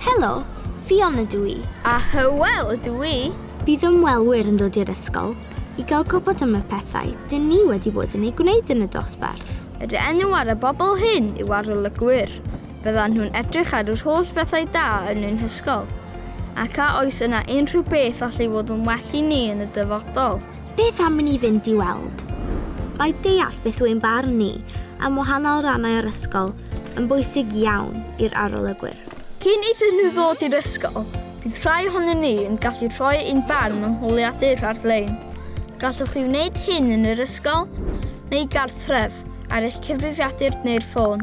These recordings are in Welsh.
Helo, Fion ydw i. A Hywel ydw i. Bydd ymwelwyr yn dod i'r ysgol i gael gwybod am y pethau dyn ni wedi bod yn ei gwneud yn y dosbarth. Yr enw ar y bobl hyn yw arolygwyr. Byddan nhw'n edrych ar yr holl bethau da yn ein hysgol. Ac a oes yna unrhyw beth allu fod yn well i ni yn y dyfodol? Beth am i ni fynd i weld? Mae deall beth yw'n barn ni am wahanol rannau o'r ysgol yn bwysig iawn i'r arolygwyr. Cyn iddyn nhw ddod i'r ysgol, bydd rhai ohonyn ni yn gallu rhoi ein barn mewn holiadur ar-lein. Gallwch chi wneud hyn yn yr ysgol, neu gartref, ar eich cyfrifiadur neu'r ffôn.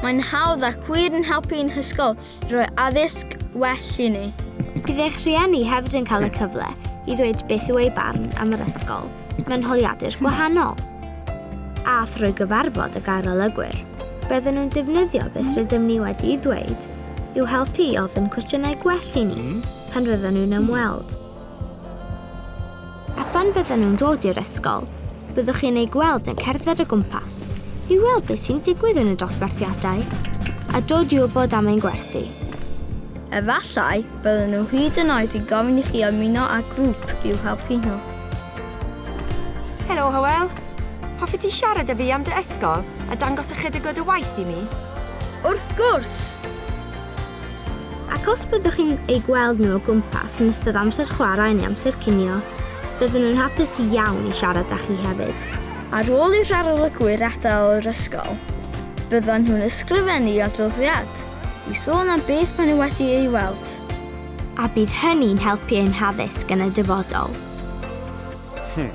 Mae'n hawdd ac wir yn helpu ein hysgol Rhoi addysg well i ni. Bydd eich rhieni hefyd yn cael y cyfle i ddweud beth yw eu barn am yr ysgol mewn holiadur gwahanol. A thrwy gyfarfod y garolygwyr, bydden nhw'n defnyddio beth rydym ni wedi'i ddweud i'w helpu i ofyn cwestiynau gwell i ni pan fydden nhw'n ymweld. A phan fyddan nhw'n dod i'r ysgol, byddwch chi'n eu gweld yn cerdded o gwmpas i weld beth sy'n digwydd yn y dosbarthiadau a dod i wybod am ein gwersi. Efallai bydden nhw hyd yn oed yn gofyn i chi ymuno â grŵp i'w helpu nhw. Helo Hywel. Hoffet ti siarad â fi am dy ysgol a dangos ychydig o dy waith i mi? Wrth gwrs! Ac os byddwch chi'n eu gweld nhw o gwmpas yn ystod amser chwarae neu amser cinio, bydden nhw'n hapus iawn i siarad â chi hefyd. Ar ôl i'r arolygwyr adael yr ysgol, byddan nhw'n ysgrifennu adroddiad i sôn am beth maen nhw wedi ei weld. A bydd hynny'n helpu ein haddysg yn y dyfodol. Hmm.